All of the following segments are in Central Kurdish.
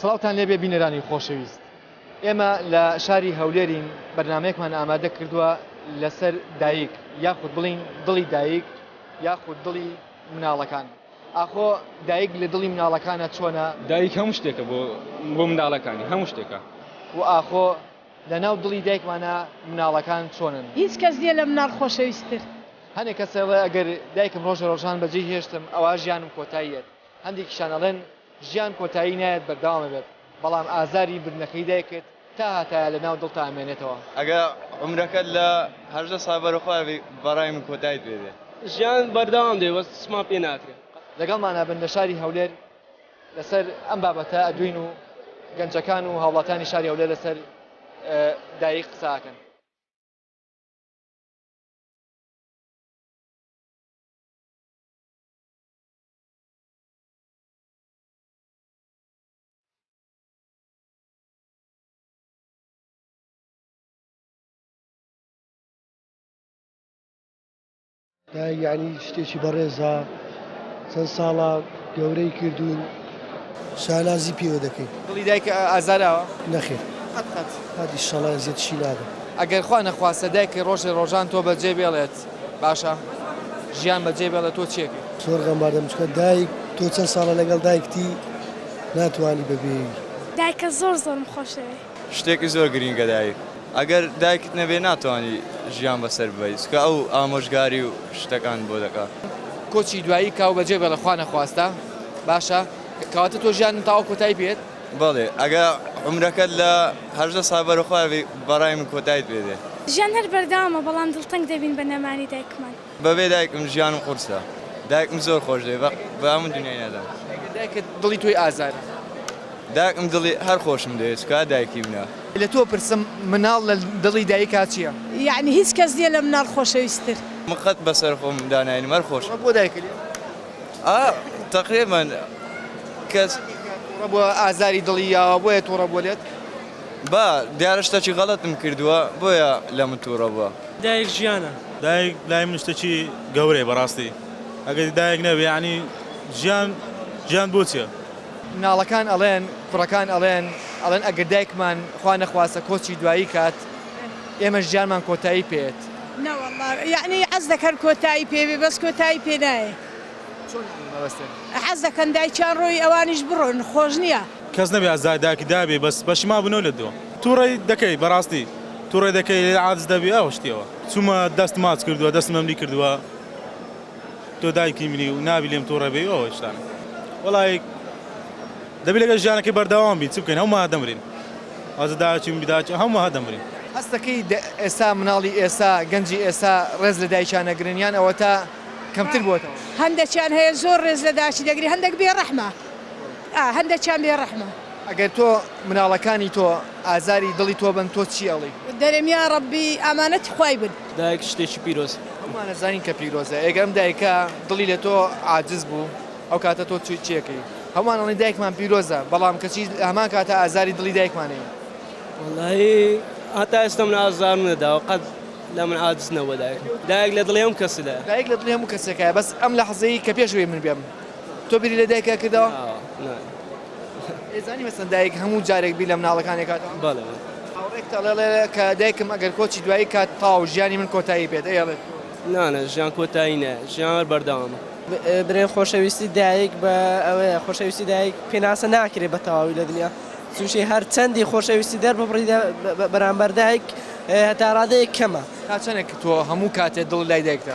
سڵاوتان لێبێ بینەرانی خۆشەویست ئێمە لە شاری هەولێرین بەرنمەیەکمان ئامادە کردووە لەسەر دایک یاخود بڵین دڵی دایک یاخود دڵی مناڵەکان ئاخۆ دایک لە دڵی مناڵەکانە چۆنە دایک هەموو شتێکە بۆ بۆ مناڵەکانی هەموو شتێکە و ئاخۆ لە ناو دڵی دایکمانە مناڵەکان چۆنن هیچ کەس نییە لە مناڵ خۆشەویستتر. هەنێ کەسەڵێ ئەگەر دایکم ڕۆژە ڕۆژان بەجێی هێشتم ئەوا ژیانم کۆتاییەت هەندێکیشیان ئەڵێن ژیان کۆتایی نایەت بەردەوام ئەبێت، بەڵام ئازاری بردنەکەی دایکت تا هەتایە لە ناو دڵتا ئەمێنێتەوە. ئەگەر عومرەکەت لە هەژدە ساڵ بەرەو خوار بێ بەڕای من کۆتایت پێ دێ. ژیان بەردەوام دەبێ بەس چمان پێ ناکرێ. لەگەڵمانا بن لە شاری هەولێر لەسەر ئەم بابەتە ئەدوین و گەنجەکان و هاوڵاتیانی شاری هەولێر لەسەر دایک قسە ئەکەن. یعنی شتێکی بەڕێزە چەند ساڵە گەورەی کردوون شالازی پێوە دەکەین دڵی دایکە ئازاراوە نەخێ هادی شڵە زیێتشی نابێت ئەگەر خوا نەخواستە دایکە ڕۆژێ ڕۆژان تۆ بەجێ بێڵێت باشە ژیان بەجێ بێڵێ تۆ چێکی. زۆر غەمباردە بچکە دایک تۆ چەند ساڵە لەگەڵ دایکتی ناتوانی بەبێی. دایکە زۆر زۆرم خۆشدەوێ. شتێکی زۆر گرینگە دایک ئەگەر دایکت نەبێ ناتوانی ژیان بەسەر ببەی چکە ئەو ئامۆژگاری و شتەکان بۆ دەکا. کۆچی دوایی کاو بەجێ بێڵێ خوا نەخواستە باشە کەواتە تۆ ژیان تاوە کۆتای پێت. بەڵێ ئەگەر عومرەکەت لە هەژدە ساڵ بەرەو خوار بێ بەڕای من کۆتایت پێ دێ. ژیان هەر بەردەوامە بەڵام دڵتەنگ دەبین بە نەمانی دایکمان. بەبێ دایکم ژیانم قورسە. دایکم زۆر خۆش دەوێ بە هەموو دونیای نەدەم. ئەگەر دایکت دڵی تۆی ئازارە. دایکم دڵی هەر خۆشم دەوێ چکار دایکی منە. لە تۆ پرسم مناڵ لە دڵی دایکا چیە. یەعنی هیچ کەس نیە لە مناڵ خۆشەویستتر. من قەت بەسەر خۆم دا ناینم هەر خۆشم. ئەوە بۆ دایکت. ئا تەقریبا کەس توڕە بووە ئازاری دڵی یاوە بۆیە توڕە بووە لێت؟ با دیارە شتەکی غەڵەتم کردووە بۆیە لە من توڕە بووە. دایک ژیانە. دایک لای من شتەکی گەورەیە بەڕاستی ئەگەر دایک نەبێ یەعنی ژیان ژیان بۆ چیە؟ مناڵەکان ئەڵێن کوڕەکان ئەڵێن ئەڵێن ئەگەر دایکمان خوا نەخواستە کۆچی دوایی کات، ئێمەش جارمان کۆتایی پێت. نەوەڵا یەعنی عەزدەک هەر کۆتایی پێ بێ بەس کۆتایی پێ نایێ. چۆن یانی مەبەستت؟ حەز دەکەن دایکیان ڕۆی ئەوانیش بڕۆن خۆش نیە. کەس نەبێ ئازاری دایکی دابێ بەس پەشیمان بنەوە لە دوا. توڕەی دەکەی بەڕاستی توڕەی دەکەی لە عادز دەبی ئەو شتیەوە. چومە دەست ماچ کردوە دەستم لەملی کردوە. تۆ دایکی منی و نابی لێم توڕە بێی و ئەوە شتانە وەڵای دەبی لەگەڵ ژیانەکەی بەردەوام بین چ بکەین هەموومان دەمرین وازە داچی من داچی هەموومان دەمرین. هەست دەکەی ئێستا مناڵی ئێستا گەنجی ئێستا ڕێز لە دایکیان ئەگرن یان ئەوەتا کەمتر بۆتەوە؟ هەندەکیان هەیە زۆر ڕێز لە داکی دەگری هەندەک بێ ڕەحمە. ئا هەندەکیان بێ ڕەحمە. ئەگەر تۆ مناڵەکانی تۆ ئازاری دڵی تۆ بن تۆ چی ئەڵی. دەرێم یا ڕەبی ئامانەتی خوای بن. دایک شتێکی پیرۆزە. هەموومان ئەزانین کە پیرۆزە ئێگە ئەم دایکە دڵی لە تۆ عاجز بوو ئەو کاتە تۆ چووی چی ئەکەی هەموومان ئەڵێن دایکمان پیرۆزە بەڵام کەچی لە هەمان کاتە ئازاری دڵی دایکمان ئەیەین. وەڵاهی هەتا ئێستا من ئازارم نەداوە قەت لە من عاجز نەبووە دایکم دایک لە دڵی هەموو کەسدایە. دایک لە دڵی هەموو کەسێکایە بەس ئەم لەحزەی کە پێش ئەوەی من بێم. تۆ بیری لە دایکە کردەوە؟ نا. ئێزانی مەسەن دایک هەموو جارێک بیر لە مناڵەکانی ئەکاتەوە؟ بەڵێ بەڵێ. هاوڕێکت ئەڵێ کە دایکم ئەگەر کۆچی دوایی کات تاو ژیانی من کۆتایی پێت ئەی ئەڵێت تۆ؟ نا نا ژیان کۆتایی نایە ژیان هەر بەردەوامە. برێ خۆشەویستی دایک بە ئەوەیە خۆشەویستی دایک پێناسە ناکرێ بە تەواوی لە دنیا چونکی هەر چەندی خۆشەویستی دەر ببڕی دە بەرامبەر دایک هەتا ڕادەیەک کەمە. تا چەنێک تۆ هەموو کاتێ دڵت لای دایکتە؟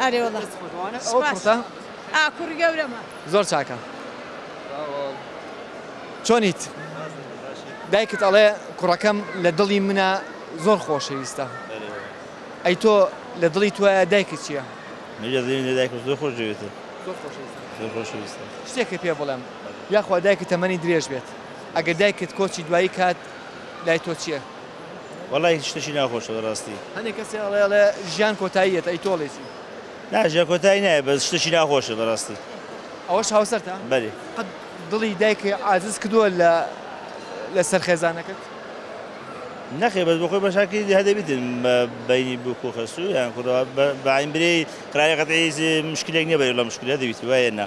ئەرێ وڵا ئاکوڕ گەورەمە زۆر چاکە چۆنیت دایکت ئەڵێ کوڕەکەم لە دڵی منە زۆر خۆشەویستە ئەی تۆ لە دڵی توە دایکت چییە؟ دایک زۆر خۆشویستە شتێکی پێ بڵێم یاخوا دایکت تەمەنی درێژ بێت ئەگەر دایکت کۆچی دوایی کات لای تۆ چییە؟ وەڵای هیچ شتەکی ناخۆشە بەراستی. هەنێ کەسێ ئەڵێ ئەڵێ ژیان کۆتایی یەت ئەی تۆڵێ چی. نا ژیان کۆتایی نایەت بەس شتەکی ناخۆشە بەراستی. ئەوەش هاوسەرتە؟ بەلی. قەت دڵی دایکە عازز کردوە لە لە سەر خێزانەکەت؟ نەخێر بەس بەخۆی بەشاکی هەر دەبیتن بە بەینی بکو خەسو یان کوڕەوە بە بەعین برێی قرارێ قەتعی مشکلێک نیە بەری لە مشکلە دەبیت وایە نا.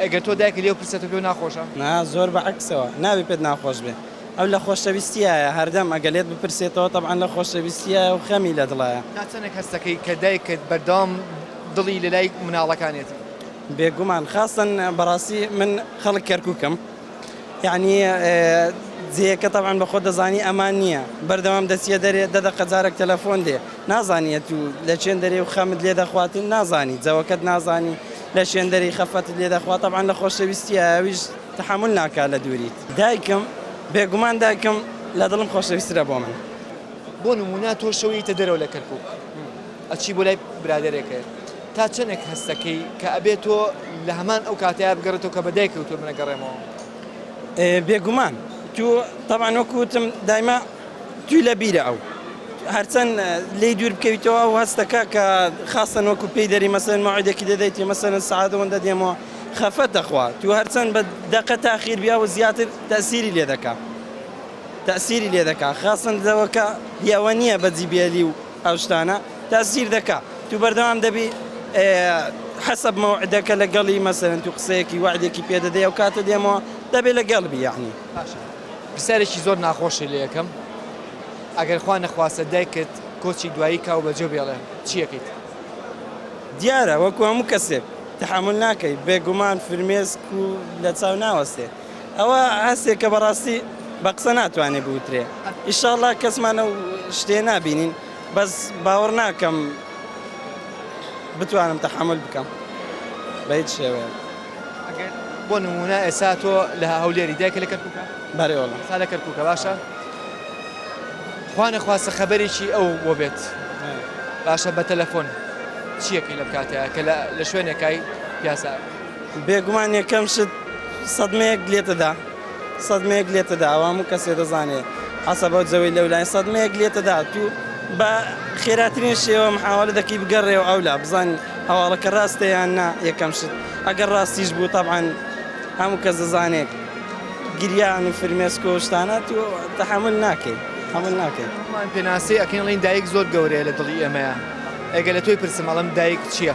ئەگەر تۆ دایکت لێو پرسێتەوە پێو ناخۆشە؟ نا زۆر بە عەکسەوە نابێ پێت ناخۆش بێ ئەو لە خۆشەویستیایە هەردەم ئەگەر لێت بپرسێتەوە تەبعەن لە خۆشەویستیایە و خەمی لە دڵایە. تا چەندێک هەست دەکەی کە دایکت بەردەوام دڵی لەلای مناڵەکانیەتی؟ بێگومان خاستەن بەڕاستی من خەڵک کەرکوکم. یەعنی جێیەکە تەبعەن بەخۆت دەزانی ئەمان نیە بەردەوام دەچیە دەرێ دە دەقە جارەک تەلەفۆن دێ نازانی ئەتوو لە چێن دەرێ و خەمت لێ دەخوات و نازانی جەوەکەت نازانی لە چێن دەرێی خەفەتت لێ دەخوا تەبعەن لە خۆشەویستی ئەویش تەحەمول ناکا لە دووریت. دایکم، بێگومان دایکم لە دڵم خۆشەویسترە بۆ من. بۆ نموونە تۆ شەو یەیتە دەرەوە لە کەرکووک. ئەچی بۆ لای برادەرێکەێ تا چەنێک هەستەکەی کە ئەبێ تۆ لە هەمان ئەو کاتەیا بگەڕێتەوە کە بە دایکەوە تۆ منە گەڕێمەوە؟ بێگومان تو تەبان وەکوتم دایمە توی لە بیرە ئەو هەرچەند لی دوور بکەویتەوە ئەو هەستەکە کە خاستن وەکو پێی دەری مەسەن ماعدێکی دەدەیتی مەسەن سعادەوەندە دێمەوە خەفەت دەخوا تو هەرچەند بە دەقە تاخیر بیا و زیاتر تەسیری لێ دەکا تەسیری لێ دەکا خاستن دەوەکە یاوە نییە بەجی بێلی و ئەو شتانە تا سیر دەکا تو بەردەوام دەبی حەسەب مەوعدەکە لەگەڵی مەسەلەن تو قسەیەکی وەعدێکی پێ دەدەی ئەو کاتە دێمەوە دەبێ لەگەڵ بی یەعنی. باشە پرسیارێکی زۆر ناخۆشت لێ ئەکەم ئەگەر خوا نەخواستە دایکت کۆچی دوایی کا و بەجێو بێڵێ چی ئەکەیت؟ دیارە وەکو هەموو کەسێک تەحەمول ناکەی بێگومان فرمێسک و لەچاو ناوەستێ. ئەوە هەستێکە بەڕاستی بە قسە ناتوانێ بوترێ ئیشاڵا کەسمان ئەو شتێ نابینین بەس باوەڕ ناکەم بتوانم تەحمل بکەم بە هیچ شێوەیە. بۆ نمونە ئێسا تۆ لە هەولێری دایکە لە کەرکوکە بەێوەڵ سا لە کەرکوکە باشە خوانە خواستە خەبەرێکی ئەو بۆ بێت باشە بە تەلەفۆن چیەکەی لە بکاتەیە کە لە شوێنێکای پیاسە بێگومان یەکەم شت سەدمەیەک لێتدا سەدمەیەک لێتدا ئەوە هەموو کەسێ دەزانێ عەسەبە جەوەی لەولای سەدمەیەک لێتدا تو بە خێراترین شێوە محاوەلە دەکەی بگەڕێەوە ئەولا بزانین هەواڵەکە ڕاستە یان نا یەکەم شت ئەگەر ڕاستیش بوو تەبعەن هەموو کەس دەزانێت گریان و فرمێسکۆ و شتانە تو تەحمل ناکەیت هەمول ناکەیت هەمووان پێناسی ئەکەین ڵین دایک زۆر گەورەیە لە دڵی ئێمەیە ئەگە لە تۆی پرسم ئەڵم دایک چییە؟